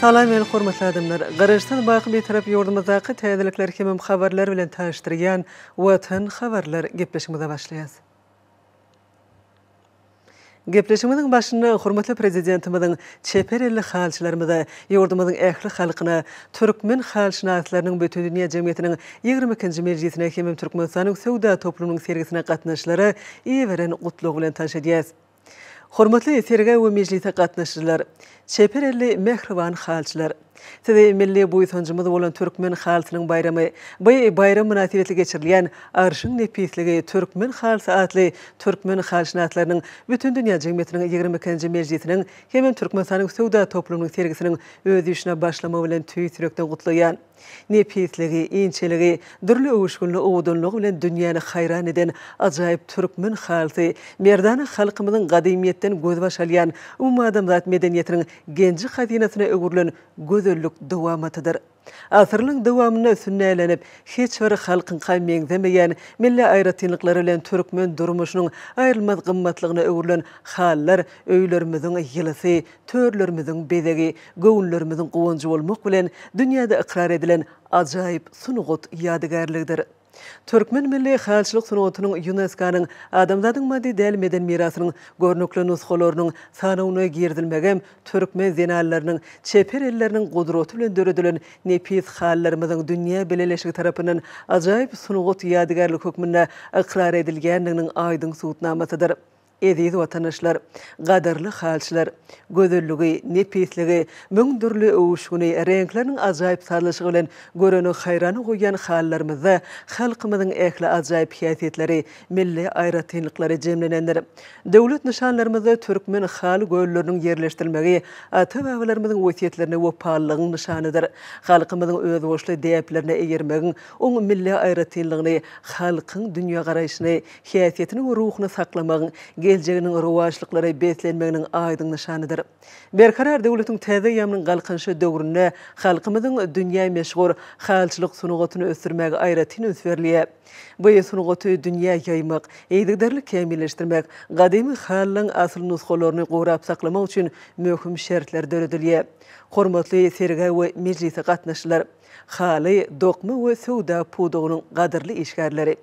Salam meni hormatly adamlar. Garaşsyz baky Bitarap ýurdumyzdaky täzelikler hemem habarlar bilen tanyşdyrýan Watan habarlar gepleşigimize başlaýas. Gepleşigimiziň başynda hormatly Prezidentimiziň çeper elli halçylarymyza, ýurdumyzyň ähli halkyna, türkmen halşynaslarynyň Bütindünýä jemgyýetiniň ýigrimi ikinji mejlisine hemem Türkmenistanyň söwda toplumynyň sergisine gatnaşyjylara iberen Gutlagy bilen tanyş edýäris. Hormatly sergä we mejlise gatnaşyjylar! Çeper elli mähriban halçylar! Sizi milli buýsanjymyz bolan Türkmen halysynyň baýramy, by baýram mynasybetli geçirilýän Arşyň nepisligi, Türkmen halysy atly Türkmen halyşynaslarynyň Bütindünýä jemgyýetiniň ýigrimi ikinji mejlisiniň hemem Türkmenistanyň söwda toplumynyň sergisiniň öz işine başlamagy bilen tüýs ýürekden gutlaýan. Nepisligi, inçeligi, dürli öwüşginli owadanlygy bilen dünýäni haýran eden ajaýyp Türkmen halysy, merdana halkymyzyň gadymyýetden gözbaş alýan umumadamzat medeniýetiniň genji hazynasyna öwrülen gözellik dowamatydyr. Asyrlaryň dowamynda sünnälenip, hiç bir halkyňka meňzemeýän milli aýratynlyklary bilen türkmen durmuşynyň aýrylmaz gymmatlygyna öwrülen halylar öýlerimiziň ýylysy, törlerimiziň bezegi, göwünlerimiziň guwanjy bolmak bilen, dünýäde ykrar edilen ajaýyp sungat ýadygärligidir. Türkmen milli halyçylyk sungatynyň ÝUNESKO-nyň Adamzadyň maddy däl meden mirasynyň görnükli nusgalarynyň sanawyna girizilmegi hem türkmen zenanlarynyň çeper elleriniň gudraty bilen döredilen nepis halylarymyzyň dünýä bileleşigi tarapyndan ajaýyp sungat ýadygärligi hökmünde ykrar edilýändiginiň aýdyň subutnamasydyr. Eziz watandaşlar, gadyrly halçylar! Gözelligi, nepisligi, müň dürli öwüşgini, reňkleriniň ajaýyp sazlaşygy bilen göreni haýrana goýýan halylarymyzda halkymyzyň ähli ajaýyp häsiýetleri, milli aýratynlyklary jemlenendir. Döwlet nyşanlarymyzda türkmen haly gölleriniň ýerleşdirilmegi ata-babalarymyzyň wesýetlerine wepalylygyň nyşanydyr. Halkymyzyň özboluşly däplerine eýermegiň oň milli aýratynlygyny, halkyň dünýägaraýşyny, häsiýetini we ruhuny saklamagyň geljeginiň rowaçlyklara beslenmeginiň aýdyň nyşanydyr. Berkarar döwletiň täze eýýamynyň Galkynyşy döwründe halkymyzyň dünýä meşhur halyçylyk sungatyny ösdürmäge aýratyn üns berilýär. Bu sungaty dünýä ýaýmak, yzygiderli kämilleşdirmek, gadymy halynyň asyl nusgalaryny gorap saklamak üçin möhüm şertler döredilýär. Hormatly sergä we mejlise gatnaşyjylar! Haly, dokma we söwda pudagynyň gadyrly işgärleri!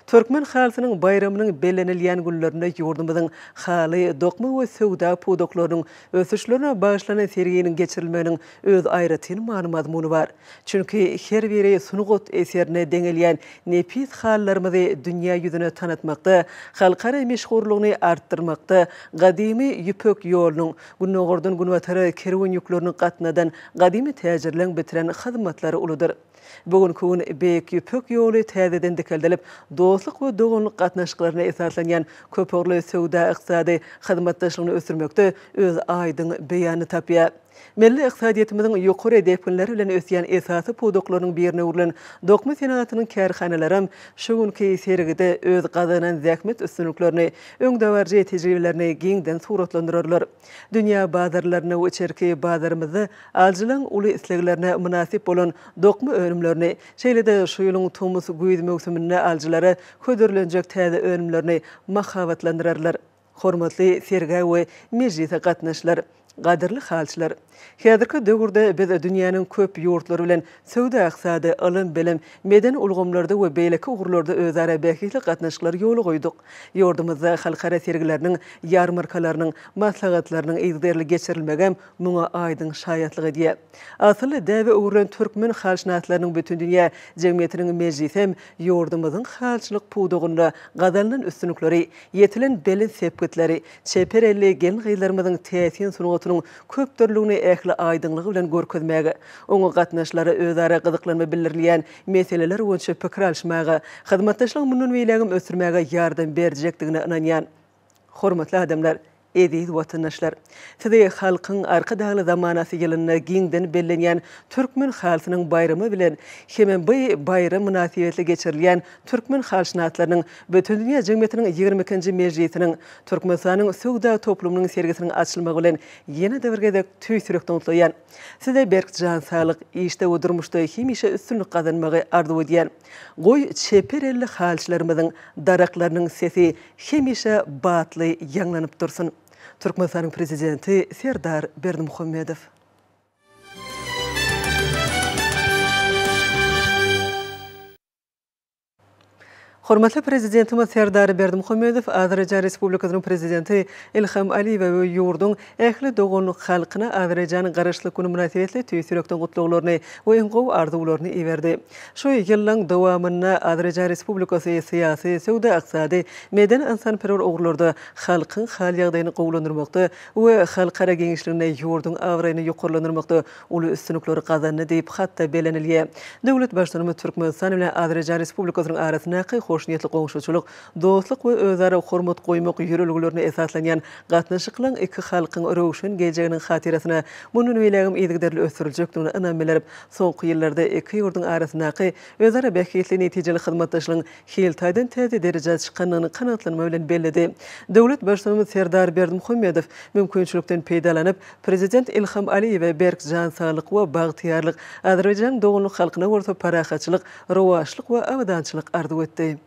Türkmen halysynyň baýramynyň bellenilýän günlerinde ýurdumyzyň haly, dokma we söwda pudaklarynyň ösüşlerine bagyşlanan serginiň geçirilmeginiň öz aýratyn many-mazmuny bar. Çünki her biri sungat eserine deňelýän nepis halylarymyzy dünýä ýüzüne tanatmakda, halkara meşhurlygyny artdyrmakda, gadymy Ýüpek ýolunyň, Gündogardan günbatara kerwen ýüklerini gatnadan gadymy täjirleň bitiren hyzmatlary uludyr. Bu günki gün Beýik Ýüpek ýoly täzeden dikeldilip, dostluk we doganlyk gatnaşyklaryna esaslanýan köpugurly söwda-ykdysady hyzmatdaşlygyny ösdürmekde öz aýdyň beýanyny tapýar. Milli ykdysadyýetimiziň ýokary depginler bilen ösýän esasy pudaklarynyň birine öwrülen dokma senagatynyň kärhanalaram şu günki sergide öz gazanan zähmet üstünliklerini öňdebaryjy tejribelerini giňden suratlandyrarlar. Dünýä bazarlaryna we içerki bazarymyzda alyjylaryň uly isleglerine mynasyp bolan dokma önümlerini, şeýle-de şu ýylyň tomus-güýz möwsüminde alyjylara hödürlenjek täze önümlerini mahabatlandyrarlar. Hormatly sergä we mejlise gatnaşlar! Gadyrly halçylar! Häzirki döwürde biz dünýäniň köp ýurtlary bilen söwda-ykdysady, ylym-bilim, medeni ulgamlarda we beýleki ugurlarda özara bähbitli gatnaşyklary ýola goýduk. Ýurdumyzda halkara sergileriniň, ýarmarkalarynyň, maslahatlarynyň yzgiderli geçirilmegem muňa aýdyň şaýatlyk edýär. Asylly däbe öwrülen türkmen halşynaslarynyň bütindünýä jemgyýetiniň mejlisi hem ýurdumyzyň halçylyk pudagynda gazanylan üstünlikleri, ýetilen belent sepgitleri, Çeper elli gelin-gyzlarymyzyň täsin sungatynyň köpdürlüligini ähli aýdyňlygy bilen görkezmäge, oňa gatnaşylara özara gyzyklanma bildirilýän meseleler boýunça pikir alyşmaga, hyzmatdaşlygy mundan beýlägem ösdürmäge ýardam berjekdigine ynanýan. Hormatly adamlar, eziz watandaşlar! Sizi Halkyň Arkadagly zamanasy ýylynda giňden bellenýän Türkmen halysynyň baýramy bilen hemem bu baýram mynasybetli geçirilýän Türkmen halyşynaslarynyň Bütindünýä jemgyýetiniň ýigrimi ikinji mejlisiniň Türkmenistanyň söwda toplumynyň sergisiniň açylmagy bilen ýene-de bir gezek tüýs ýürekden gutlaýan. Size berk jan saglyk, işde we durmuşda hemişe üstünlik gazanmagy arzuw edýän. Goý, çeper elli halyçylarymyzyň daraklarynyň sesi hemişe batly ýaňlanyp dursun! Türkmenistanyň Prezidenti Serdar Berdimuhamedow. Hormatly Prezidentimiz Serdar Berdimuhamedow Azerbaýjan Respublikasynyň Prezidenti Ilham Aliýewe we ýurduň ähli dogan halkyna Azerbaýjanyň Garaşsyzlyk güni mynasybetli tüýs ýürekden gutlaglaryny we iň gowy arzuwlaryny iberdi. Şu ýyllaň dowamynda Azerbaýjan Respublikasy syýasy, söwda-ykdysady, medeni-ynsanperwer ugurlarda halkyň hal-ýagdaýyny gowulandyrmakda we halkara giňişliginde ýurduň abraýyny ýokarlandyrmakda uly üstünlikleri gazandy diýip, hatda bellenilýär. Döwlet Baştutanymyz Türkmenistan bilen Azerbaýjan Respublikasynyň arasyndaky hoşniýetli goňşuçylyk, dostluk we özara hormat goýmak ýörelgelerine esaslanýan gatnaşyklaryň iki halkyň röwşen geljeginiň hatyrasyna mundan beýlägem yzygiderli ösdüriljekdigine ynam bildirip, soňky ýyllarda iki ýurduň arasyndaky özara bähbitli netijeli hyzmatdaşlygyň hil taýdan täze derejä çykandygyny kanagatlanma bilen belledi. Döwlet Baştutanymyz Serdar Berdimuhamedow mümkinçilikden peýdalanyp, Prezident Ilham Aliýewe berk jan saglyk we bagtyýarlyk, Azerbaýjanyň doganlyk halkyna bolsa parahatçylyk, rowaçlyk we abadançylyk arzuw etdi.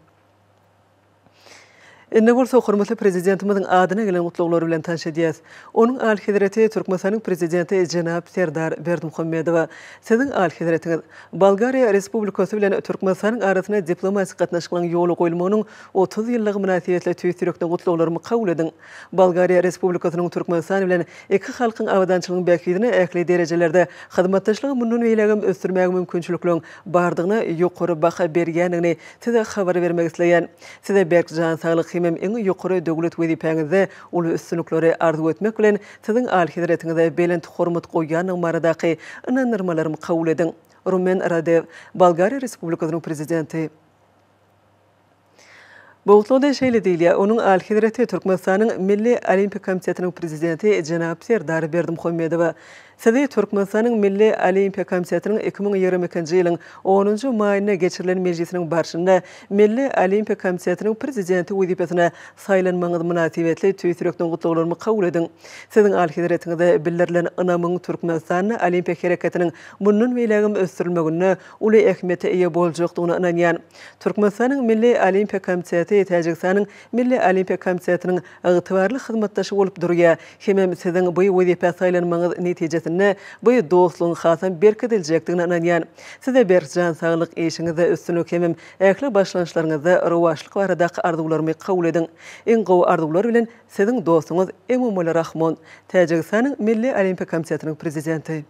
Indi bolsa hormatly Prezidentimiziň adyna gelen gutlaglary bilen tanyş edýäs. Onuň Alyhezreti Türkmenistanyň Prezidenti jenap Serdar Berdimuhamedowa, Siziň Alyhezretiňiz, Bolgariýa Respublikasy bilen Türkmenistanyň arasynda diplomatik gatnaşyklaryň ýola goýulmagynyň otuz ýyllygy mynasybetli tüýs ýürekden gutlaglarymy kabul ediň. Bolgariýa Respublikasynyň Türkmenistan bilen iki halkyň abadançylygynyň bähbidine ähli derejelerde hyzmatdaşlygy mundan beýlägem ösdürmäge mümkinçilikligiň bardygyna ýokary baha berýändigini Size habar bermek isleýän. Size berk jan saglyk hemem iň ýokary döwlet wezipäňizde uly üstünlikleri arzuw etmek bilen, Siziň Alyhezretiňize belent hormat goýýandygym baradaky ynandyrmalarymy kabul ediň. Rumen Radew, Bolgariýa Respublikasynyň Prezidenti. Bu gutlagda şeýle diýilýär, Onuň Alyhezreti Türkmenistanyň Milli Olimpiýa komitetiniň Prezidenti jenap Serdar Berdimuhamedowa, Sizi Türkmenistanyň Milli Olimpiýa komitetiniň iki müň ýigrimi ikinji ýylyň onunjy maýynda geçirilen mejlisiniň barşynda Milli Olimpiýa komitetiniň Prezidenti wezipesine saýlanmagyňyz mynasybetli tüýs ýürekden gutlaglarymy kabul ediň. Siziň Alyhezretiňize bildirilen ynamyň Türkmenistanda Olimpiýa hereketiniň mundan beýlägem ösdürilmeginde uly ähmiýete eýe boljakdygyna ynanýan. Türkmenistanyň Milli Olimpiýa komiteti Täjigistanyň Milli Olimpiýa Komitetiniň ygtybarly hyzmatdaşy bolup durýar, hemem siziň bu wezipä saýlanmagyňyz netijesinde bu dostlugyň hasam berkidiljekdigine ynanýan. Size berk jan saglyk, işiňizde üstünlik hemem ähli başlangyçlaryňyzda rowaçlyk baradaky arzuwlarymy kabul ediň. Iň gowy arzuwlar bilen siziň dostuňyz Emomali Rahmon, Täjigistanyň Milli Olimpiýa Komitetiniň Prezidenti.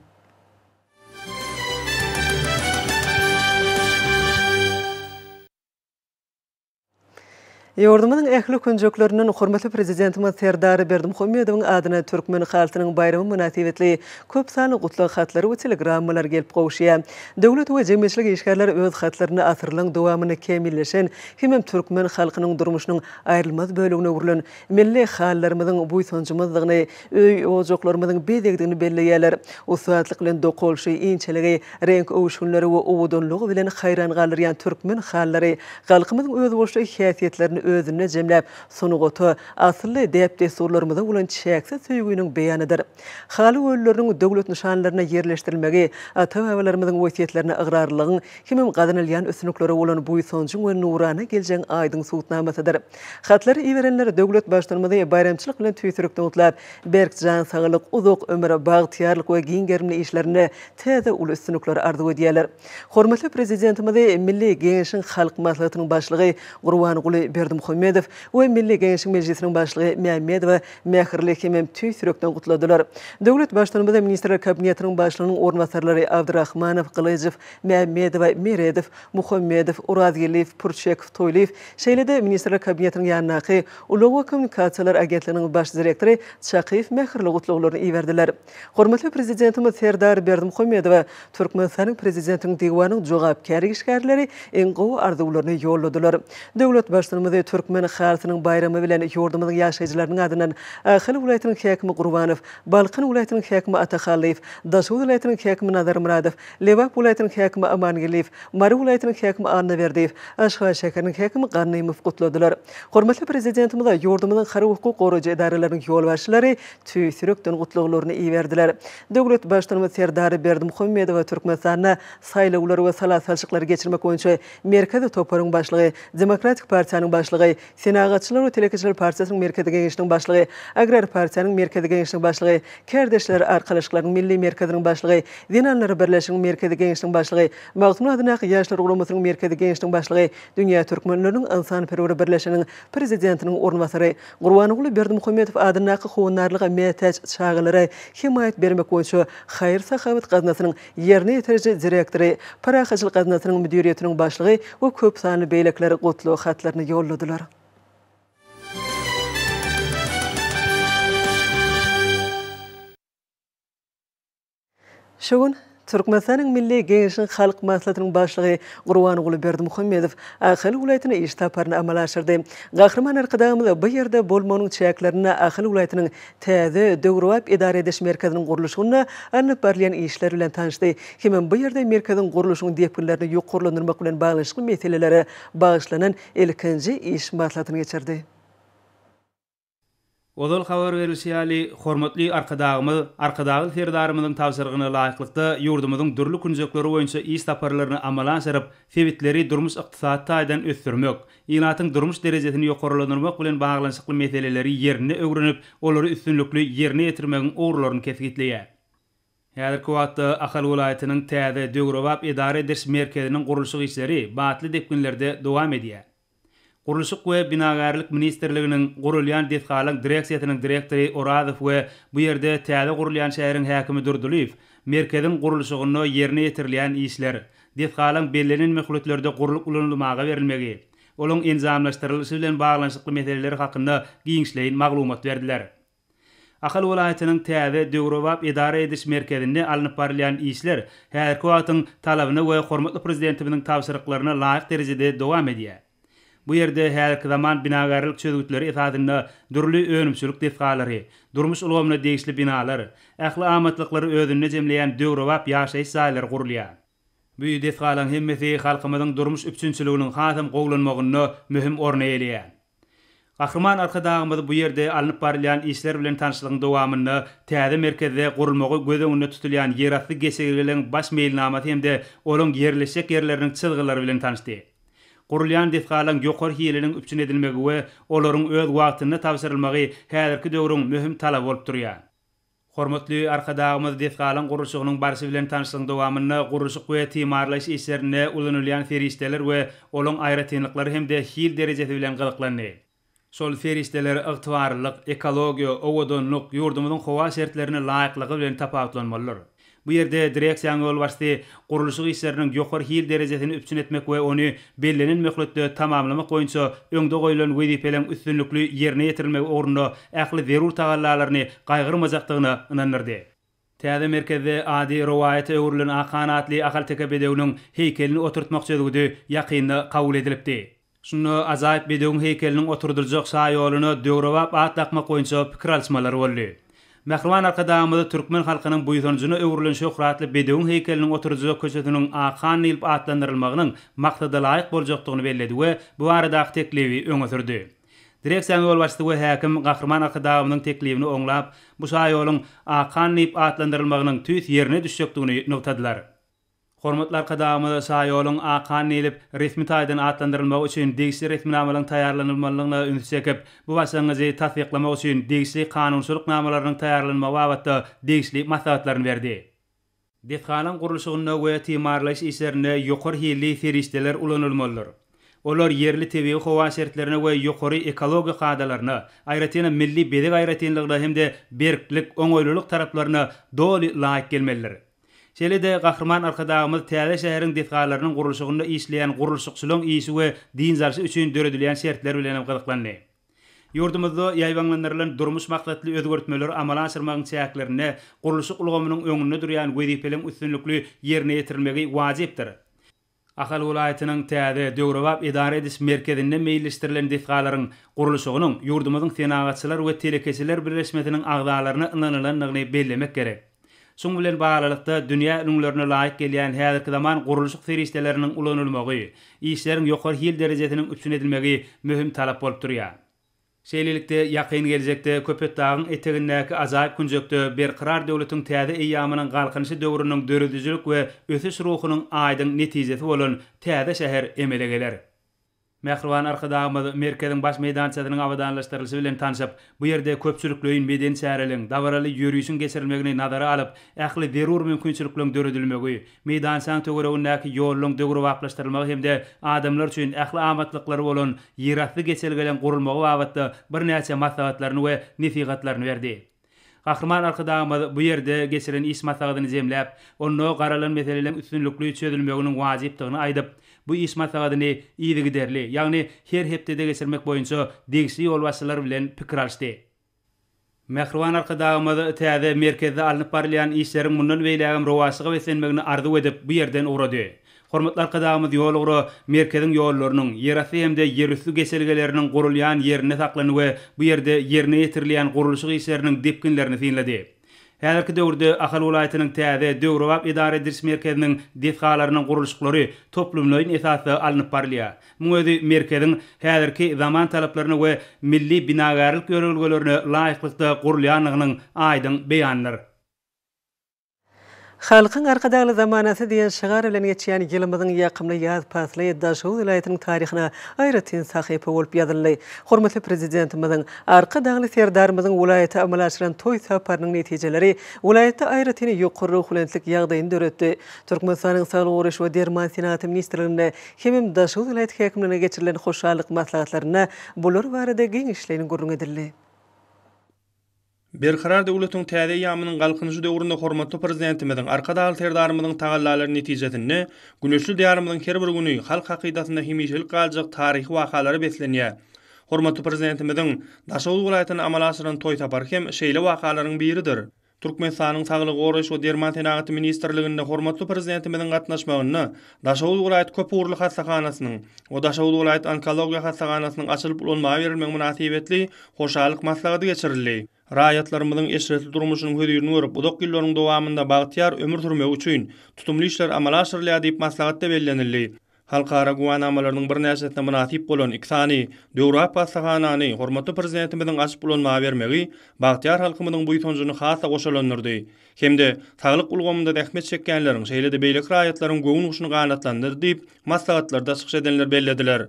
Ýurdumyzyň ähli künjeklerinden hormatly Prezidentimiz Serdar Berdimuhamedowyň adyna Türkmen halkynyň baýramy mynasybetli köp sanly gutlag hatlary we telegrammalar gelip gowuşýar. Döwlet we jemgyýetçilik işgärleri öz hatlarynda asyrlaryň dowamynda kämilleşen hemem türkmen halkynyň durmuşynyň aýrylmaz bölegine öwrülen milli halylarymyzyň buýsanjymyzdygyny, öý-ojaklarymyzyň bezegdigini belleýärler. Ussatlyk bilen dokalşy, inçeligi, reňk öwüşginleri we owadanlygy bilen haýran galdyrýan türkmen halylary halkymyzyň özboluşly häsiýetlerini özünde jemläp, sungata, asylly däp-dessurlarymyza bolan çäksiz söýgüniň beýanydyr. Haly gölleriniň döwlet nyşanlaryna ýerleşdirilmegi ata-babalarymyzyň wesýetlerine ygrarlylygyň hemem gazanylýan üstünliklere bolan buýsanjyň we nurana geljegň aýdyň subutnamasydyr. Hatlary iberenler döwlet Baştutanymyzy baýramçylyk bilen tüýsürikli gutlap, berk jan saglyk, uzak ömür, bagtyýarlyk we giň gerimli işlerinde täze uly üstünlikleri arzuw edýärler. Hormatly Prezidentimizi Milli Geňeşiň Halk Maslahatynyň Başlygy Gurbanguly Berdimuhamedow we Milli Geňeşiň Mejlisiniň Başlygy Mämmedowa mähirli hemem tüýsürekden gutladylar. Döwlet Baştutanymyzy Ministrler Kabinetiniň Başlygynyň orunbasarlary Abdyrahmanow, Gylyjow, Mämmedowa, Meredow, Muhammedow, Orazgeldiýew, Purçekow, Toýlyýew Şeýle-de Ministrler Kabinetiniň ýanyndaky Ulag we kommunikasiýalar agentliginiň baş direktory Çakyýew mähirli gutlaglaryny iberdiler. Hormatly Prezidentimiz Serdar Berdimuhamedowa Türkmenistanyň Prezidentiniň Diwanyň jogapkär işgärleri iň gowy arzuwlaryny ýolladylar. Döwlet Baştutanymyzy Türkmen halysynyň baýramy bilen ýurdumyzyň ýaşaýjylarynyň adyndan Ahal welaýatynyň häkimi Gurbanow, Balkan welaýatynyň häkimi Atahallýew, Daşoguz welaýatynyň häkimi Nazarmyradow, Lebap welaýatynyň häkimi Amangeldiýew, Mary welaýatynyň häkimi Annaberdiýew, Aşgabat şäheriniň häkimi Ganymow gutladylar. Hormatly Prezidentimize ýurdumyzyň harby-hukuk goraýjy edaralarynyň ýolbaşçylary tüýs ýürekden gutlaglaryny iberdiler. Döwlet Baştutanymyz Serdar Berdimuhamedowa Türkmenistanda saýlawlary we sala salşyklary geçirmek boýunça Merkezi toparyň başlygy, Demokratik partiýanyň başlygy, Senagatçylar we telekeçiler partiýasynyň Merkezi Geňeşiniň başlygy, Agrar partiýanyň Merkezi Geňeşiniň başlygy, Kärdeşler arkalaşyklarynyň Milli merkeziniň başlygy, Zenanlar birleşiginiň Merkezi Geňeşiniň başlygy, Magtymguly adyndaky Ýaşlar guramasynyň Merkezi Geňeşiniň başlygy, Dünýä türkmenleriniň ynsanperwer birleşiginiň prezidentiniň orunbasary, Gurbanguly Berdimuhamedow adyndaky Howandarlyga mätäç çagalara hemaýat bermek boýunça haýyr-sahawat gaznasynyň ýerine ýetiriji direktory, Pyrak hyjyl gaznasynyň müdiriýetiniň başlygy we köp sanly beýlekiler gutlag hatlaryny ýolladylar. Şu gün Türkmenistanyň Milli Geňeşiniň Halk Maslahatynyň Başlygy Gurbanguly Berdimuhamedow Ahal welaýatyna iş saparyny amala aşyrdy. Gahryman Arkadagymyz bu ýerde bolmagynyň çäklerinde Ahal welaýatynyň täze döwrebap edara ediş merkeziniň gurluşygynda alnyp barylýan işler bilen tanyşdy hemem bu ýerde merkeziň gurluşygyň depginlerini ýokarlandyrmak bilen baglanyşykly meselelere bagyşlanan ilkinji iş maslahatyny geçirdi. Ozal habar berlişi ýaly, hormatly Arkadagymyz Arkadagly Serdarymyzyň tabşyrygyna laýyklykda, ýurdumyzyň dürli künjekleri boýunça iş saparlaryny amala aşyryp, sebitleri durmuş-ykdysady taýdan ösdürmek, ilatyň durmuş derejesini ýokarlandyrmak bilen baglanyşykly meseleleri ýerinde öwrenip, olary üstünlikli ýerine ýetirmegiň ugurlaryny kesgitleýär. Häzirki wagtda Ahal welaýatynyň täze, döwrebap edara ediş merkeziniň gurluşyk işleri batly depginlerde dowam edýär. Gurluşyk we binagärlik ministrliginiň gurulýan desgalaň direksiýasynyň direktory Orazow we bu ýerde täze gurulýan şäheriň häkimi Durdylyýew merkeziň gurluşygynda ýerine ýetirilýän işler, Desgalaryň bellenen möhletlerde gurlup ulanylmaga berilmegi, olaryň enjamlaşdyrylyşy bilen baglanyşykly meseleler hakynda giňişleýin maglumat berdiler. Ahal welaýatynyň täze, döwrebap edara ediş merkezinde alnyp barylýan işler häzirki wagtyň talabyna we hormatly Prezidentimiziň tabşyryklaryna laýyk derejede dowam edýär. Bu ýerde häzirki zaman binagärlik çözgütleri esasynda dürli önümçilik desgalary, durmuş ulgamyna degişli binalar, ähli amatlyklary özünde jemleýän döwrebap ýaşaýyş jaýlary gurulýar. Bu desgalaryň hemmesi halkymyzyň durmuş üpjünçiliginiň hasam gowulanmagynda möhüm orun eýeleýär. Gahryman Arkadagymyz bu ýerde alnyp barylýan işler bilen tanyşlygyň dowamynda täze merkezde gurulmagy göz öňünde tutulýan ýerasty geçelgeleň baş meýilnamasy hem-de olaň ýerleşjek ýerleriniň çyzgylary bilen tanyşdy. Gurulýan desgalaň ýokary hiliniň üpjün edilmegi we olaryň öz wagtynda tabşyrylmagy häzirki döwrüň möhüm talaby bolup durýar. Hormatly Arkadagymyz desgalaň gurluşygynyň barşy bilen tanyşlygyň dowamynda gurluşyk we timarlaýyş işlerinde ulanylýan serişdeler we olaň aýratynlyklary hem-de hil derejesi bilen gyzyklandy. Şol serişdeler ygtybarlylyk, ekologiýa, owadanlyk, ýurdumyzyň howa şertlerine laýyklygy bilen tapawutlanmalydyr. Bu ýerde direksiýanyň ýolbaşçysy gurluşyk işleriniň ýokary hil derejesini üpjün etmek we ony bellenen möhletde tamamlamak boýunça öňde goýlan wezipeleň üstünlikli ýerine ýetirilmegi ugrunda ähli zerur tagallalaryny gaýgyrmajakdygyna ynandyrdy. Täze merkezde ady rowaýata öwrülen Akan atly ahalteke bedewiniň heýkelini oturtmak çözgüdi ýakynda kabul edilipdi. Şunda ajaýyp bedewiň heýkeliniň oturdyljak şaýoluna döwrebap at dakmak boýunça pikir alyşmalar boldy. Mähriban Arkadagymyzy türkmen halkynyň buýsanjyna öwrülen şöhratly bedewiň heýkeliniň oturdyljak köçesiniň Ak han diýlip atlandyrylmagynyň maksadalaýyk boljakdygyny belledi we bu baradaky teklibi öňe sürdi. Direksiýanyň ýolbaşçysy we häkim Gahryman Arkadagymyzyň teklibini oňlap, bu şaýoluň Ak han diýip atlandyrylmagynyň tüýs ýerine düşjekdigini nygtadylar. Hormatly Arkadagymyz şaýoluň Akan diýlip, resmi taýdan atlandyrylmagy üçin degişli resminamalaryň taýýarlanylmalydygyna ünsi çekip, bu başlangyjy tassyklamak üçin degişli kanunçylyk namalarynyň taýýarlanmagy babatda degişli maslahatlaryny berdi. Desganyň gurluşygynda we timarlaýyş işlerinde ýokary hilli serişdeler ulanylmalydyr. Olar ýerli tebigy howa şertlerine we ýokary ekologiýa kadalaryna, aýratynam milli bezeg aýratynlygyna hem-de berklik, oňaýlylyk taraplaryna doly laýyk gelmelidir. Şeýle-de, Gahryman Arkadagymyz täze şäheriň desgalarynyň gurluşygynda işleýän gurluşykçylaryň işi we dynç alşy üçin döredilýän şertler bilen hem gyzyklandy. Ýurdumyzda ýaýbaňlandyrylan durmuş maksatly özgertmeleri amala aşyrmagyň çäklerinde gurluşyk ulgamynyň öňünde durýan wezipeliň üstünlikli ýerine ýetirilmegi wajypdyr. Ahal welaýatynyň täze, döwrebap edara ediş merkezinde meýilleşdirilen desgalaryň gurluşygynyň ýurdumyzyň Senagatçylar we telekeçiler birleşmesiniň agzalaryna ynanylandygyny bellemek gerek. Şuň bilen baglylykda, dünýä ülňülerine laýyk gelýän häzirki zaman gurluşyk serişdeleriniň ulanylmagy, işleriň ýokary hil derejesiniň üpjün edilmegi möhüm talap bolup durýar. Şeýlelikde, ýakyn geljekde Köpetdagyň etegindäki ajaýyp künjekde Berkarar döwletiň täze eýýamynyň Galkynyşy döwrüniň döredijilik we ösüş ruhunyň aýdyň netijesi bolan täze şäher emele geler. Mähriban Arkadagymyz merkeziň baş meýdançasynyň abadanlaşdyrylyşy bilen tanşyp, bu ýerde köpçülikleýin medeni çäreligiň, dabaraly ýörişiň geçirilmegini nazara alyp, ähli zerur mümkinçilikleriň döredilmegi, Meýdançanyň töweregindäki ýollaryň döwrebaplaşdyrylmagy hem-de adamlar üçin ähli amatlyklary bolan ýerasty geçelgeleň gurulmagy babatda birnäçe maslahatlaryny we nesihatlaryny berdi. Gahryman Arkadagymyz bu ýerde geçiren iş maslahatyny jemläp, onda garalan meseleleriň üstünlikli çözülmeginiň wajypdygyny aýdyp, bu iş maslahatyny yzygiderli, ýagny her hepdede geçirmek boýunça degişli ýolbaşçylar bilen pikir alyşdy. Mähriban Arkadagymyz täze merkezde alnyp barylýan işleriň mundan beýlägem rowaçlyga beslenmegini arzuw edip, bu ýerden ugrady. Hormatly Arkadagymyz ýolugra merkeziň ýollarynyň, ýerasty hem-de ýerüsti geçelgeleriniň gurulýan ýerinde saklandy we bu ýerde ýerine ýetirilýän gurluşyk işleriniň depginlerini synlady. Häzirki döwürde Ahal welaýatynyň täze, döwrebap edara ediliş merkeziniň desgalarynyň gurluşyklary toplumlaýyn esasda alnyp barylýar. Muň özi merkeziň häzirki zaman talaplaryna we milli binagärlik ýörelgelerine laýyklykda gurulýandygynyň aýdyň beýanydyr. Halkyň Arkadagly zamanasy diýen şygar bilen geçýän ýylymyzyň ýakymly ýaz pasly Daşoguz welaýatynyň taryhyna aýratyn sahypa bolup ýazyldy. Hormatly Prezidentimiziň, Arkadagly Serdarymyzyň welaýata amala aşyran toý saparynyň netijeleri welaýatda aýratyn ýokary ruhubelentlik ýagdaýyny döretdi. Türkmenistanyň Saglygy goraýyş we derman senagaty ministrliginde hemem Daşoguz welaýat häkimliginde geçirilen hoşallyk maslahatlarynda bular barada giňişleýin gürrüň edildi. Berkarar döwletiň täze eýýamynyň Galkynyşy döwründe hormatly Prezidentimiziň, Arkadagly Serdarymyzyň tagallalary netijesinde güneşli Diýarymyzyň her bir güni halk hakydasynda hemişelik galjak taryhy wakalara beslenýär. Hormatly Prezidentimiziň Daşoguz welaýatyna amala aşyran toý sapary hem şeýle wakalaryň biridir. Türkmenistanyň Saglygy goraýyş we derman senagaty ministrliginde hormatly Prezidentimiziň gatnaşmagynda Daşoguz welaýat köpugurly hassahanasynyň we Daşoguz welaýat onkologiýa hassahanasynyň açylyp ulanmaga berilmegi mynasybetli hoşallyk maslahaty geçirildi. Raýatlarymyzyň eşretli durmuşynyň hözirini görüp, uzak ýyllaryň dowamynda bagtyýar ömür sürmegi üçin tutumly işler amala aşyrylýar diýip, maslahatda bellenildi. Halkara güwänamalarynyň birnäçesine mynasyp bolan iki sany döwrebap hassahanany hormatly Prezidentimiziň açyp ulanmaga bermegi bagtyýar halkymyzyň buýsanjyny has-da goşalandyrdy. hem-de saglyk ulgamynda zähmet çekýänleriň, şeýle-de beýleki raýatlaryň göwün guşuny ganatlandyr diýip, maslahatlarda çykyş edenler bellediler.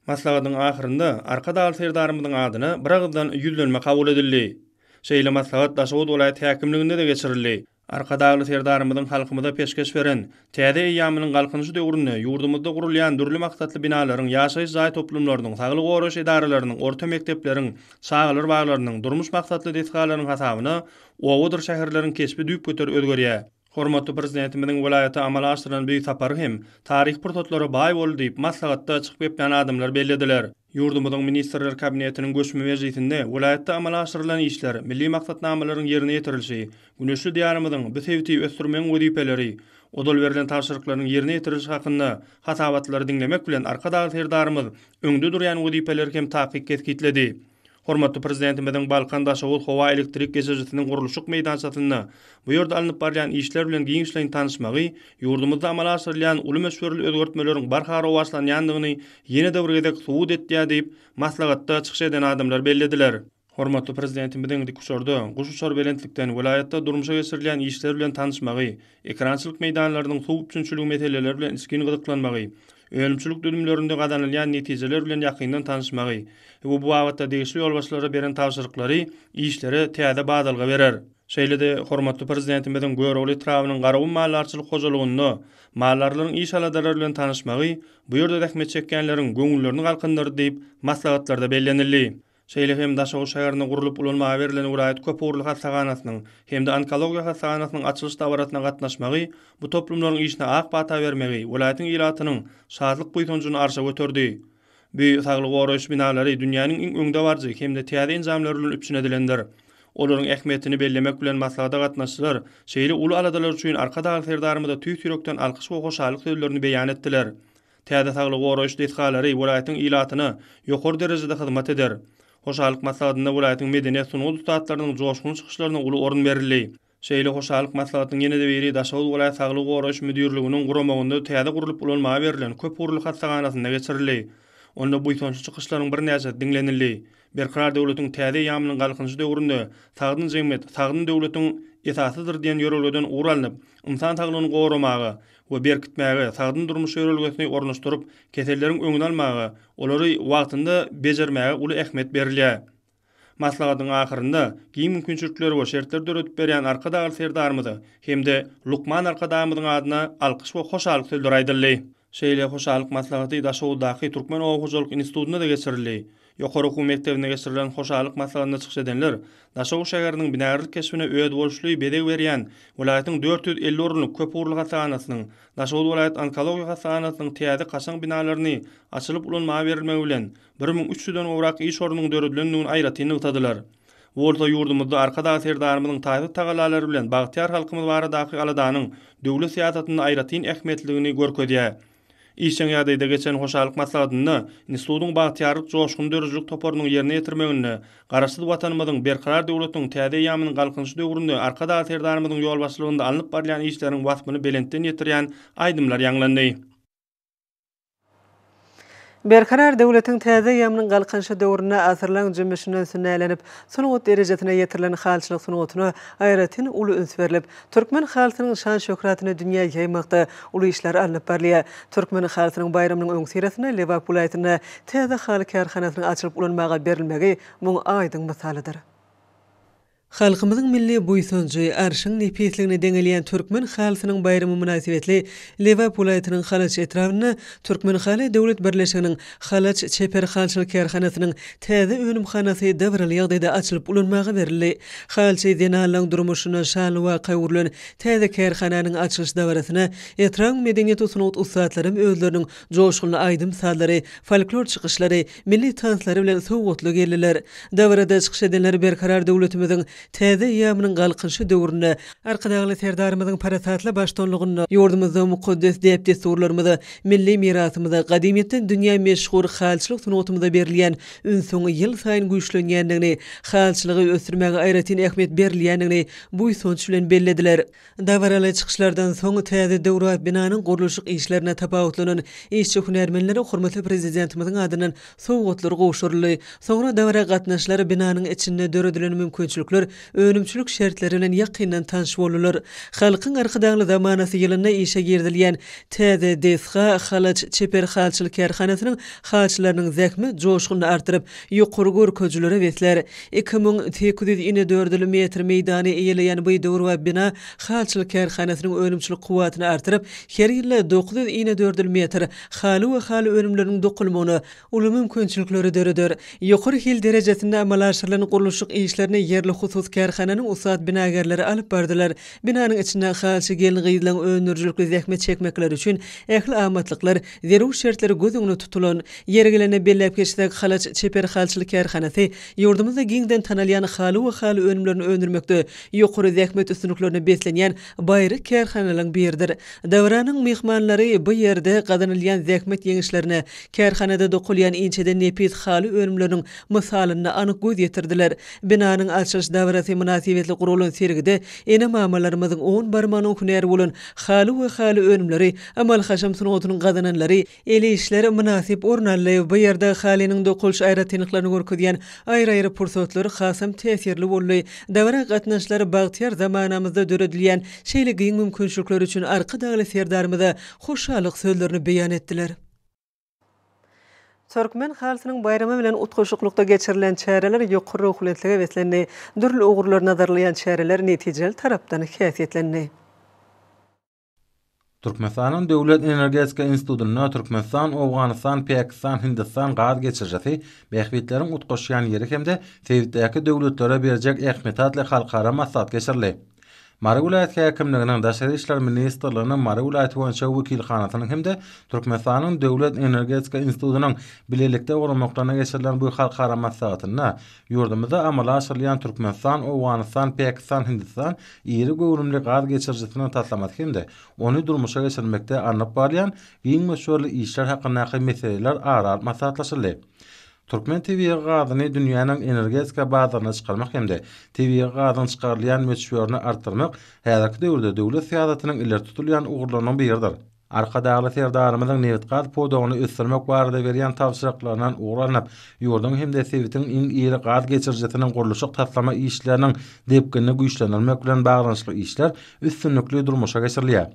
Maslahatyň ahyrynda Arkadagly Serdarymyzyň adyna biragyzdan ýüzlenme kabul edildi. Şeýle maslahat Daşoguz welaýat häkimliginde-de geçirildi. Arkadagly Serdarymyzyň halkymyza peşgeş beren Täze eýýamynyň Galkynyşy döwründe ýurdumyzda gurulýan dürli maksatly binalaryň, ýaşaýyş jaý toplumlarynyň, saglygy goraýyş edaralarynyň, orta mekdepleriň, çagalar baglarynyň, durmuş maksatly desgalaryň hasabyna Obadyr şäherleriň keşbi düýpgöter özgerýär. Hormatly Prezidentimiziň welaýata amala aşyran beýik sapary hem taryhy pursatlara baý boldy diýip, maslahatda çykyp geplän adamlar bellediler. Ýurdumyzyň Ministrler Kabinetiniň göçme mejlisinde welaýatda amala aşyrylan işler, milli maksatnamalaryň ýerine ýetirilişi, güneşli Diýarymyzyň bu sebiti ösdürmegiň wezipeleri, ozal berlen tabşyryklaryň ýerine ýetirilişi hakynda hasabatlary diňlemek bilen Arkadagly Serdarymyz öňde durýan wezipeleri hem takyk kesgitledi. Hormatly Prezidentimiziň Balkan-Daşoguz howa elektrik geçirijisiniň gurluşyk meýdançasynda bu ýerde alnyp barylýan işler bilen giňişleýin tanyşmagy ýurdumyzda amala aşyrylýan uly möçberli özgertmeleriň barha rowaçlanýandygyny ýene-de bir gezek subut etýär diýip, maslahatda çykyş eden adamlar bellediler. Hormatly Prezidentimiziň dikuçarda, guşuçar belentlikden welaýatda durmuşa geçirilýän işler bilen tanyşmagy, ekrançylyk meýdanlarynyň suw üpjünçiligi meseleleri bilen içgin gyzyklanmagy, önümçilik düzümlerinde gazanylýan netijeler bilen ýakyndan tanyşmagy we bu babatda degişli ýolbaşçylara beren tabşyryklary işlere täze badalga berer. Şeýle-de hormatly Prezidentimiziň Görogly etrabynyň Garagum maldarçylyk hojalygynda maldarlaryň iş aladalary bilen tanyşmagy bu ýerde zähmet çekýänleriň göňüllerini galkyndyrdy diýip, maslahatlarda bellenildi. şeýle hem Daşoguz şäherinde gurlup ulanmaga berlen welaýat köpugurly hassahanasynyň hem-de onkologiýa hassahanasynyň açylyş dabarasyna gatnaşmagy bu toplumlaryň işine ak pata bermegi welaýatyň ilatynyň şatlyk-buýsanjyny arşa göterdi. Bu saglygy goraýyş binalary dünýäniň iň öňdebaryjy hem-de täze enjamlar bilen üpjün edilendir. Olaryň ähmiýetini bellemek bilen maslahata gatnaşyjylar şeýle uly aladalar üçin Arkadagly Serdarymyza tüýs ýürekden alkyş we hoşallyk sözlerini beýan etdiler. Täze saglygy goraýyş desgalary welaýatyň ilatyna ýokary derejede hyzmat eder. Hoşallyk maslahatynda welaýatyň medeniýet, sungat ussatlarynyň joşgunly çykyşlaryna uly orun berildi. Şeýle hoşallyk maslahatyň ýene-de biri Daşoguz welaýat saglygy goraýyş müdirliginiň guramagynda täze gurlup ulanmaga berlen köp ugurly hassahanasynda geçirildi. Onda buýsançly çykyşlaryň birnäçesi diňlenildi. Berkarar döwletiň täze eýýamynyň Galkynyşy döwründe Sagdyn jemgyýet, sagdyn döwletiň esasydyr diýen ýörelgeden ugur alnyp, ynsan saglygyny goramaga, we berkitmäge, sagdyn durmuş ýörelgesini ornaşdyryp, keselleriň öňüni almaga, olary wagtynda bejermäge uly ähmiýet berilýär. Maslahatyň ahyrynda giň mümkinçilikleri we şertleri döredip berýän Arkadagly Serdarymyza hem-de lukman Arkadagymyzyň adyna alkyş we hoşallyk sözleri aýdyldy. Şeýle hoşallyk maslahaty Daşoguzdaky Türkmen oba hojalyk institutynda-da geçirildi. Ýokary okuw mekdebinde geçirilen hoşallyk maslahatynda çykyş edenler Daşoguz şäheriniň binagärlik keşbine özboluşly bezeg berýän welaýatyň dört ýüz elli orunlyk köp ugurly hassahanasynyň, Daşoguz welaýat onkologiýa hassahanasynyň täze kaşaň binalaryny açylyp ulanmaga berilmegi bilen bir müň üç ýüzden gowrak iş ornunyň döredilendigini aýratyn nygtadylar. Bu bolsa ýurdumyzda Arkadagly Serdarymyzyň taýsyz tagallalary bilen bagtyýar halkymyz baradaky aladanyň döwlet syýasatynda aýratyn ähmiýetlidigini görkezýär. Işjeň ýagdaýda geçen hoşallyk maslahatynda institutyň Bagtyýarlyk joşguny döredijilik toparynyň ýerine ýetirmeginde Garaşsyz Watanymyzyň Berkarar döwletiň täze eýýamynyň Galkynyşy döwründe Arkadag Serdarymyzyň ýolbaşçylygynda alnyp barylýan işleriň waspyny belentden ýetirýän aýdymlar ýaňlandy. Berkarar döwletiň täze ýamynyň Galkynyşy döwründe asyrlaň jümmüşinden sünnälenip, sungat derejesine ýetirilen halyçylyk sungatyna aýratyn uly üns berlip, türkmen halysynyň şan-şöhratyny dünýä ýaýmakda uly işler alnyp barylýar. Türkmen halysynyň baýramynyň öňüsyrasynda Lebap welaýatynda täze haly kärhanasynyň açylyp ulanmaga berilmegi muň aýdyň mysalydyr. Halkymyzyň milli buýsanjy, arşyň nepisligine deňelýän Türkmen halysynyň baýramy mynasybetli Lebap welaýatynyň Halaç etrabynda Türkmenhaly döwlet birleşiginiň Halaç çeper halyçylyk kärhanasynyň täze önümhanasy dabaraly ýagdaýda açylyp ulanmaga berildi. Halyçy zenanlaryň durmuşyna şanly waka öwrülen täze kärhananyň açylyş dabarasyna etrabyň medeniýet we sungat ussatlaram özleriniň joşgunly aýdym-sazlary, folklor çykyşlary, milli tanslary bilen sowgatly geldiler. Dabarada çykyş edenler Berkarar döwletimiziň täze eýýamynyň Galkynyşy döwründe Arkadagly Serdarymyzyň parasatly baştuanlygynda ýurdumyzda mukaddes däp-dessurlarymyza, milli mirasymyza, gadymyýetden dünýä meşhur halyçylyk sungatymyza berilýän ünsüň ýylsaýyn güýçlenýändigini, halyçylygy ösdürmäge aýratyn ähmiýet berilýändigini buýsanç bilen bellediler. Dabaraly çykyşlardan soň, täze döwra binanyň gurluşyk işlerine tapawutlanan işçi-hünärmenlere hormatly Prezidentimiziň adyndan sowgatlar gowşuryldy. Soňra dabara gatnaşyjylar binanyň içinde döredilen mümkinçilikler, önümçilik şertleri bilen ýakyndan tanyş boldular. Halkyň Arkadagly zamanasy ýylynda işe girizilýän täze desga, halaç, çeper halçylyk kärhanasynyň halçylarynyň zähmet joşgunyny artdyryp, Ýokary görkezijilere besler. Iki müň sekiz ýüz inedördül metr meýdany eýeleýän bu döwrebap bina halyçylyk kärhanasynyň önümçilik kuwwatyny artyryp, her ýylda dokuz ýüz inedördül metr haly we haly önümleriniň dokulmagyna uly mümkinçilikleri döreder. Ýokary hil derejesinde amala aşyrylan gurluşyk işlerini ýerli hususy kärhananyň ussat binagärleri alyp bardylar. Binanyň içinde halyçy gelin-gyzlaryň öndürijilikli zähmet çekmekleri üçin ähli amatlyklar, Zerur şertleri göz öňüne tutulan, ýeri gelende belläp geçsek, Halaç çeper halçylyk kärhanasy ýurdumyzda giňden tanalýan haly we haly önümlerini öndürmekde ýokary zähmet üstünliklerine beslenýän baýry kärhanalaryň biridir. Dabaranyň myhmanlary bu ýerde gazanylýan zähmet ýeňişlerine, kärhanada dokulýan inçeden nepis haly önümleriniň mysalyna anyk göz ýetirdiler. Binanyň açylyş dabarasy mynasybetli guralan sergide ene-mamalarymyzyň on barmagynyň hünäri bolan haly we haly önümleri Amal-haşam sungatynyň gazananlary, el işler mynasyp orun aldy. Bu ýerde halynyň dokalyş aýratynlyklaryny görkezýän aýry-aýry pursatlar hasam täsirli boldy. Dabara gatnaşyjylar bagtyýar zamanamyzda döredilýän şeýle giň mümkinçilikler üçin Arkadagly Serdarymyza hoşallyk sözlerini beýan etdiler. Türkmen halysynyň baýramy bilen utgaşyklykda geçirilen çäreler ýokary ruhubelentlige beslendi. Dürli ugurlar nazarlaýan çäreler netijeli tarapdan häsiýetlendi. Türkmenistanyň Döwlet energetika institutynda Türkmenistan, Owganystan, Pakistan, Hindistan gaz geçirijisi bähbitleriň utgaşýan ýeri hem-de sebitdäki döwletlere berjek ähmiýeti atly halkara maslahat geçirildi. Mary welaýat häkimliginiň, Daşary işler ministrliginiň Mary welaýaty boýunça wekilhanasynyň hem-de Türkmenistanyň Döwlet energetika institutynyň bilelikde guramaklarynda geçirilen bu halkara maslahatynda Ýurdumyzda amala aşyrylýan Türkmenistan, Owganystan, Päkistan, Hindistan iri göwrümli gaz geçirijisiniň taslamasy hem-de ony durmuşa geçirmekde alnyp barylýan giň möçberli işler hakyndaky meseleler ara alyp maslahatlaşyldy. Türkmen tebigy gazyny dünýäniň energetika bazaryna çykarmak hem-de tebigy gazyň çykarylýan möçberini artdyrmak häzirki döwürde döwlet syýasatynyň ileri tutulýan ugurlarynyň biridir. Arkadagly Serdarymyzyň nebitgaz pudagyny ösdürmek barada berýän tabşyryklaryndan ugur alnyp, ýurduň hem-de sebitiň iň iri gaz geçirijisiniň gurluşyk-taslama işleriniň depginini güýçlendirmek bilen baglanyşykly işler üstünlikli durmuşa geçirilýär.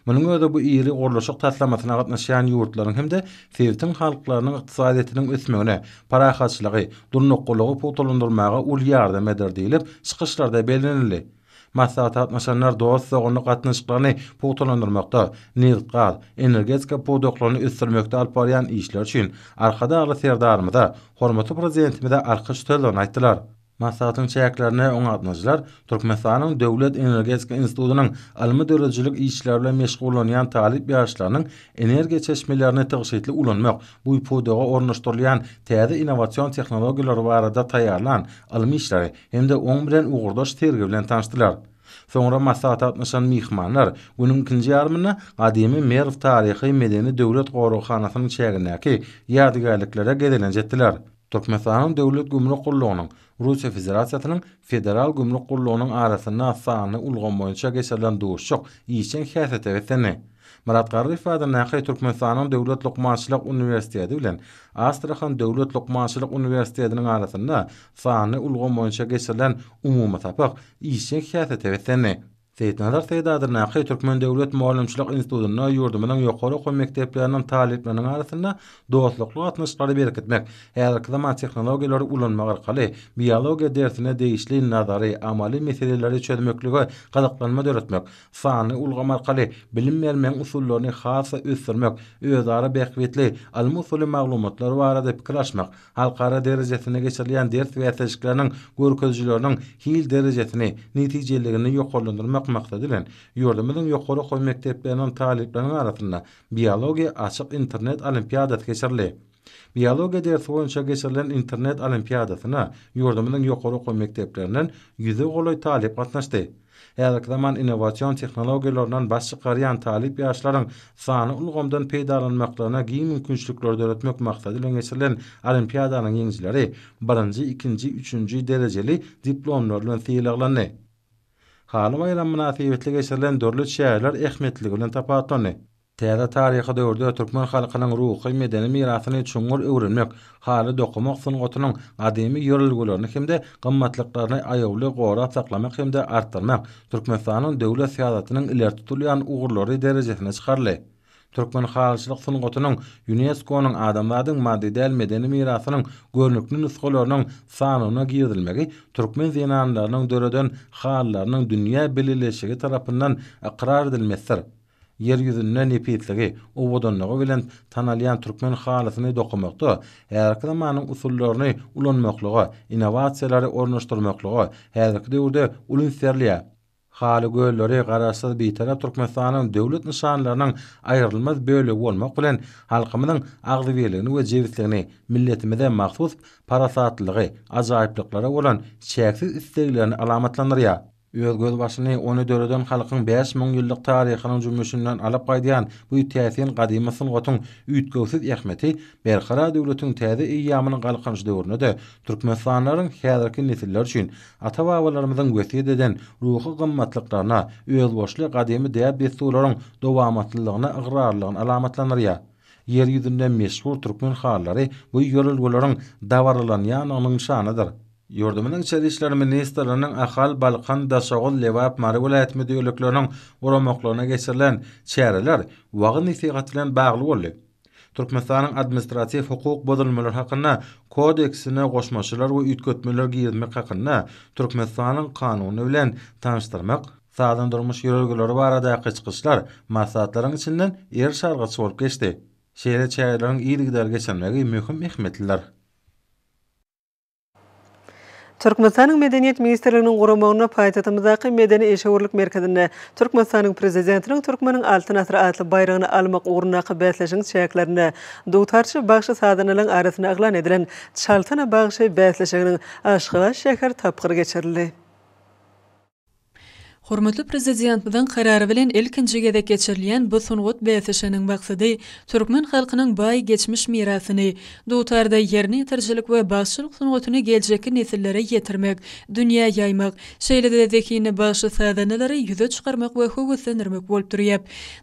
Munuň özi bu iri gurluşyk taslamasyna gatnaşýan ýurtlaryň hem-de sebitiň halklarynyň ykdysadyýetiniň ösmegine, parahatçylygy, durnuklylygy pugtalandyrmaga uly ýardam eder diýlip, çykyşlarda bellenildi. Maslahata gatnaşanlar dost-doganlyk gatnaşyklaryny pugtalandyrmakda, nebit-gaz, energetika pudaklaryny ösdürmekde alyp barýan işleri üçin Arkadagly Serdarymyza, hormatly Prezidentimize alkyş sözlerini aýtdylar. Maslahatyň çäklerinde oňa gatnaşyjylar Türkmenistanyň Döwlet energetika institutynyň ylmy-döredijilik işleri bilen meşgullanýan talyp ýaşlarynyň energiýa çeşmelerini tygşytly ulanmak bu pudaga ornaşdyrylýan täze innowasion tehnologiýalary barada taýýarlan ylmy işleri hem-de oň bilen ugurdaş sergi bilen tanyşdylar. Soňra maslahata gatnaşan myhmanlar günüň ikinji ýarymynda gadymy Merw taryhy-medeni döwlet goraghanasynyň çägindäki ýadygärliklere gezelenç etdiler. Türkmenistanyň Döwlet gümrük gullugynyň Russiýa Federasiýasynyň Federal gümrük gullugynyň arasynda sanly ulgam boýunça geçirilen duşuşyk işjeň häsiýete beslendi. Myrat Garryýew adyndaky Türkmenistanyň Döwlet lukmançylyk uniwersiteti bilen Astrahan döwlet lukmançylyk uniwersitediniň arasynda Sanly ulgam boýunça geçirilen umumy sapak işjeň syýasete beslendi. Seýitnazar Seýit adyndaky Türkmen döwlet mugallymçylyk institutynda ýurdumyzyň ýokary okuw mekdepleriniň talyplarynyň arasynda dostlukly gatnaşyklary berkitmek, häzirki zaman tehnologiýalary ulanmak arkaly biologiýa dersine degişli nazary, amaly meseleleri çözmeklige gyzyklanma döretmek, sanly ulgam arkaly bilim bermegiň usullaryny has-da ösdürmek, özara bähbitli, almy usuly maglumatlar barada pikir alyşmak, Halkara derejesinde geçirilýän ders bäsleşikleriniň görkezijileriniň hil derejesini, netijeliligini ýokarlandyrmak maksady bilen, ýurdumyzyň ýokary okuw mekdepleriniň talyplarynyň arasynda Biologiýa açyk internet olimpiadasy geçirildi. Biologiýa dersi boýunça geçirilen internet olimpiadasyna ýurdumyzyň ýokary okuw mekdeplerinden ýüze golaý talyp gatnaşdy. Häzirki zaman innowasion tehnologiýalaryndan baş çykarýan talyp ýaşlaryň sanly ulgamdan peýdalanmaklaryna giň mümkinçilikleri döretmek maksady bilen geçirilen olimpiadanyň ýeňijileri birinji, ikinji, üçünji derejeli diplomlar bilen sylaglandy. Haly baýramy mynasybetli geçirilen dürli çäreler ähmiýetliligi bilen tapawutlandy. Täze taryhy döwürde türkmen halkynyň ruhy-medeni mirasyny çuňňur öwrenmek, haly dokamak sungatynyň gadymy ýörelgelerini hem-de gymmatlyklaryny aýawly gorap saklamak hem-de artdyrmak Türkmenistanyň döwlet syýasatynyň ileri tutulýan ugurlary derejesine çykaryldy. Türkmen halyçylyk sungatynyň Ýunesko-nyň Adamzadyň maddy däl medeni mirasynyň görnükli nusgalarynyň sanawyna girizilmegi türkmen zenanlarynyň döreden halylarynyň dünýä bileleşigi tarapyndan ykrar edilmesidir. Ýer ýüzünde nepisligi, owadanlygy bilen tanalýan türkmen halysyny dokamakda häzirki zamanyň usullaryny ulanmaklyga, innowasiýalary ornaşdyrmaklyga häzirki döwürde uly üns berilýär. Haly gölleri Garaşsyz, Bitarap Türkmenistanyň döwlet nyşanlarynyň aýrylmaz bölegi bolmak bilen, halkymyzyň agzybirligini we jebisligini, milletimize mahsus parasatlylygy, ajaýyplyklara bolan çäksiz isleglerini alamatlandyrýar. Öz gözbaşyny ony döreden halkyň bäş müň ýyllyk taryhynyň jümmüşinden alyp gaýdýan bu täsin gadymy sungatyň üýtgewsiz ähmiýeti Berkarar döwletiň täze eýýamynyň Galkynyş döwründe-de türkmenistanlylaryň häzirki nesiller üçin ata-babalarymyzyň wesýet eden ruhy gymmatlyklaryna, özboluşly gadymy däp-dessurlaryň dowamatlylygyna ygrarlylygyny alamatlandyrýar. Ýer ýüzünde meşhur türkmen halylary bu ýörelgeleriň dabaralanýandygynyň nyşanydyr. Ýurdumyzyň Içeri işler ministrliginiň Ahal, Balkan, Daşoguz, Lebap, Mary welaýat müdirlikleriniň guramaklarynda geçirilen çäreler wagyz-nesihat bilen bagly boldy. Türkmenistanyň Administratiw hukuk bozulmalar hakynda Kodeksine goşmaçalar we üýtgetmeler girizmek hakynda Türkmenistanyň Kanuny bilen tanyşdyrmak, sagdyn durmuş ýörelgeleri baradaky çykyşlar maslahatlaryň içinden ir çalgyç bolup geçdi. Şeýle çäreleriň yzygiderli geçirilmegi möhüm ähmiýetlidir. Türkmenistanyň Medeniýet ministrliginiň guramagynda paýtagtymyzdaky Medeni-işewürlik merkezinde Türkmenistanyň Prezidentiniň Türkmeniň Altyn asyry atly baýragyny almak ugrundaky bäsleşigiň çäklerinde dutarçy bagşy-sazanalaryň arasynda yglan edilen Çaltana bagşy bäsleşiginiň Aşgabat şäher tapgyry geçirildi. Hormatly Prezidentmiziň Karary bilen ilkinji gezek geçirilýän bu sungat bäsleşiginiň maksady türkmen halkynyň baý geçmiş mirasyny, dutarda ýerine ýetirijilik we bagşylyk sungatyny geljekki nesillere ýetirmek, dünýä ýaýmak, şeýle-de zehinli bagşy-sazandalary ýüze çykarmak we höweslendirmek bolup durýar.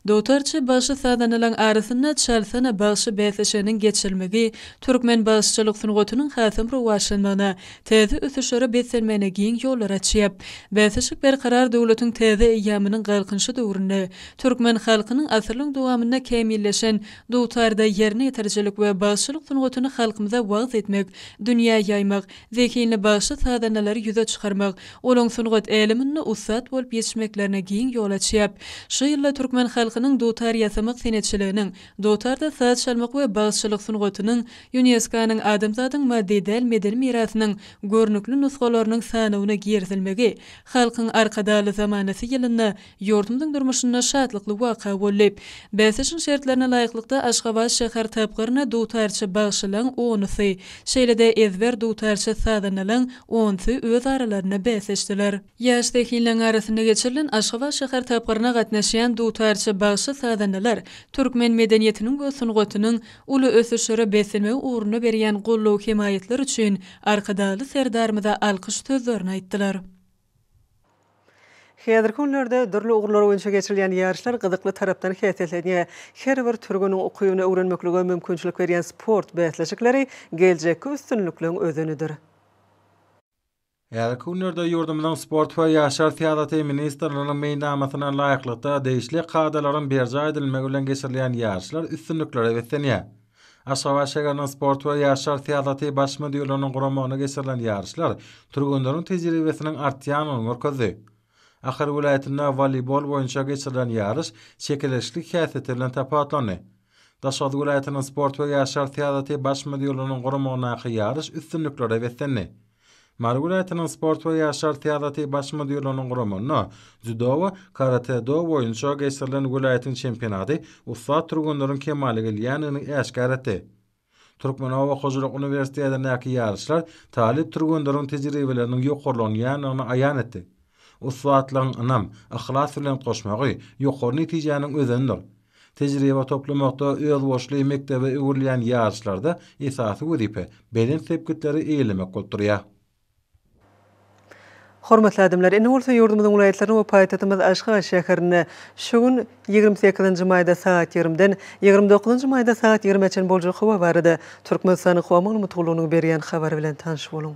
Dutarçy bagşy-sazandalaryň arasynda Çalsana bagşy bäsleşiginiň geçirilmegi türkmen bagşyçylyk sungatynyň hasam rowaçlanmagyna, täze ösüşlere beslenmegine giň ýollar açýar. Bäsleşik Berkarar döwletiň täze eýýamynyň Galkynyşy döwründe türkmen halkynyň asyrlaryň dowamynda kämilleşen dutarda ýerine ýetirijilik we bagşylyk sungatyny halkymyza wagyz etmek, dünýä ýaýmak, zehinli bagşy-sazandalary ýüze çykarmak, olaň sungat äleminde ussat bolup ýetişmeklerine giň ýol açýar. Şu ýylda türkmen halkynyň dutar ýasamak senetçiliginiň Dutarda saz çalmak we bagşylyk sungatynyň Ýuneskonyň Adamzadyň maddy däl medeni mirasynyň görnükli nusgalarynyň sanawyna girizilmegi Halkyň Arkadagly zamanasy ýylynda ýurdumyzyň durmuşynda şatlykly waka boldy. Bäsleşigiň şertlerine laýyklykda, Aşgabat şäher tapgyryna dutarçy bagşylaň onusy, şeýle-de ezber dutarçy sazandalaň onsy öz aralarynda bäsleşdiler. Ýaş zehinleriň arasynda geçirilen Aşgabat şäher tapgyryna gatnaşýan dutarça bagşy-sazandalar türkmen medeniýetiniň we sungatynyň uly ösüşlere beslenmegi ugrunda berýän goldaw-hemaýatlar üçin Arkadagly Serdarymyza alkyş sözlerini aýtdylar. Häzirki günlerde dürli ugurlar boýunça geçirilýän ýaryşlar gyzykly tarapdan häsiýetlenýär. Her bir türgeniň ukybyny öwrenmeklige mümkinçilik berýän sport bäsleşikleri geljekki üstünlikleň özenidir. Häzirki günlerde ýurdumyzyň Sport we ýaşlar syýasaty ministrliginiň meýilnamasyna laýyklykda degişli kadalaryň berjaý edilmegi bilen geçirilýän ýaryşlar üstünliklere beslenýär. Aşgabat şägeriniň Sport we ýaşlar syýasaty Baş müdirliginiň guramagynda geçirilen ýaryşlar türgenleriň tejribesiniň artýandygyny görkezdi. Ahal welaýatynda woleýbol boýunça geçirilen ýaryş çekeleşikli häsiýeti bilen tapawutlandy. Daşoguz welaýatynyň sport we ýaşlar syýasaty baş müdirliginiň guramagyndaky ýaryş üstünliklere beslendi. Mary welaýatynyň sport we ýaşlar syýasaty baş müdirliginiň guramagynda dzýudo we karate-do boýunça geçirilen welaýatyň çempionaty ussat türgenleriň kemala gelýändigini äşgär etdi. Türkmenoba hojalyk uniwersitetindäki ýaryşlar talyp türgenleriň tejribeleriniň ýokarlanýandygyny aýan etdi. Ussatlygyň ynam, yhlas bilen goşmagy ýokary netijäniň özenidir. Tejribe toplamakda özboluşly mekdebe öwrülýän ýaryşlarda esasy wezipe belent sepgitleri eýelemek bolup durýar. Hormatly adamlar, indi bolsa ýurdumyzyň welaýatlaryna we paýtagtymyz Aşgabat şäherine şu gün, ýigrimi sekizinji maýda sagat ýigrimiden ýigrimi dokuzynjy maýda sagat ýigrimä çenli boljak howa barada Türkmenistanyň Howa Maglumatgullugynyň berýän habary bilen tanyş boluň.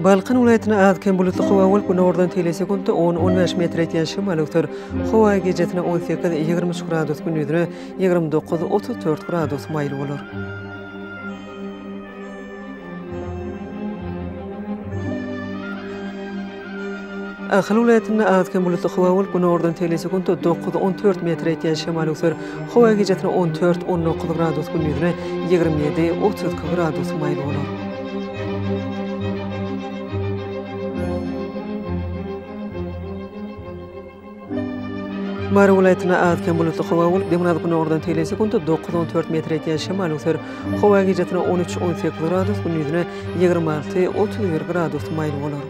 Balkan welaýatyna az-kem bulutly howa bolup, günordan teýle sekuntda on, on bäş metr ýetýän şemal öwser. Howa gijasine on sekiz, ýigrimi üç gradus, gündizine ýigrimi dokuz, otuz dört gradus maýyl bolar. Ahal welaýatynda az-kem bulutly howa bolup, günordan tegelýär-sekunda dokuz, on dört metre ýetýän şemal öwser. Howa gijasynda on dört, on dokuz gradus, gündizine ýigrimi ýedi, otuz iki gradus maýyl bolar. Mary welaýatynda az-kem bulutly howa bolup, demirgazyk-gündogardan tegelýän sekuntda dokuz-on dört metr ýetýän şemal öser. Howa gijasine on üç-on sekiz gradus, gündizine ýigrimi alty-otuz bir gradus maýyl bolar.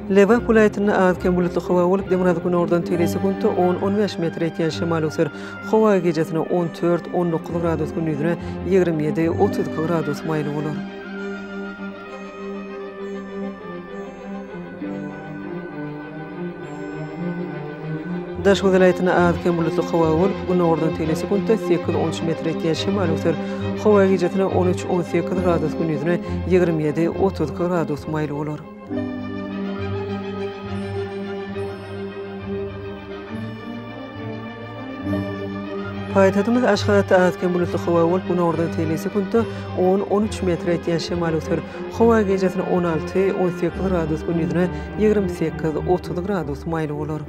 Lebap welaýatynda az-kem bulutly howa bolup, demirgazyk günordan tegelýän sekuntda on, on bäş metr ýetýän şemal öwser. Howa gijesine on dört, on dokuz gradus, gündizine ýigrimi ýedi, otuz iki gradus maýyl bolar. Daşoguz welaýatynda az-kem bulutly howa bolup, Gündogardan tegelýän sekuntda sekiz, on üç metr ýetýän şemal öser. Howa gijasine on üç, on sekiz gradus, gündizine ýigrimi ýedi, otuz iki gradus maýyl bolar. Paýtagtymyz Aşgabatda az-kem bulutly howa bolup, günordan tegelýän sekuntda on, on üç metre ýetýän şemal öser. Howa gijesi on alty, on sekiz gradus, gündizine ýigrimi sekiz, otuz gradus maýyl bolar.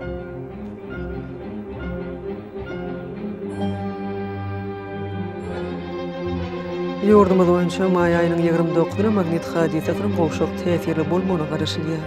Ýurdumyz boýunça maý aýynyň ýigrimi dokuzyna magnit hadysasynyň gowşak täsirli bolmagyna garaşylýar.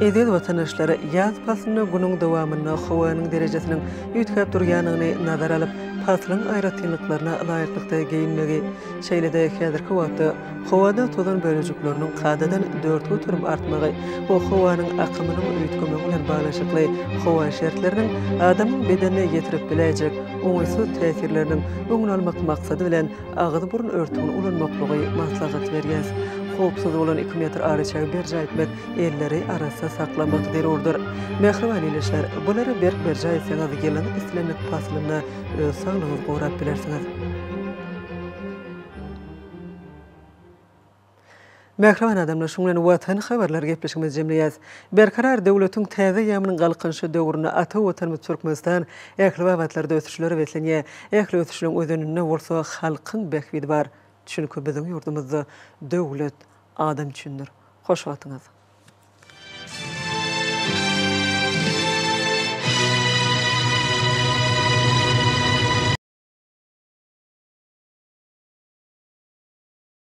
Eziz watandaşlar, ýaz paslynda günüň dowamynda howanyň derejesiniň üýtgäp durýanyny nazara alyp, paslyň aýratynlyklaryna laýyklykda geýinmegi, şeýle-de häzirki wagtda howada tozan bölejikleriniň kadadan dört göterim artmagy we howanyň akymynyň üýtgemegi bilen baglanyşykly howa şertleriniň adamyň bedenine ýetirip biläýjek oňaýsyz täsirleriniň öňüni almak maksady bilen Agyz-burun örtügini ulanmaklygy maslahat berýäs. Howpsuz bolan iki metr araçägi berjaý etmek, elleri arassa saklamak zerurdyr. Mähriban ildeşler, bulary berk berjaý etseňiz, ýylyň islendik paslynda öz saglygyňyzy gorap bilersiňiz. Mähriban adamlar, şunuň bilen Watan habarlary gepleşigimizi jemleýäs. Berkarar döwletiň täze eýýamynyň Galkynyşy döwründe ata Watanymyz Türkmenistan ähli babatlarda ösüşlere beslenýär. Ähli ösüşleň özeninde bolsa halkyň bähbidi bar. Çünki biziň ýurdumyzda döwlet adam üçindir. Hoş wagtyňyz!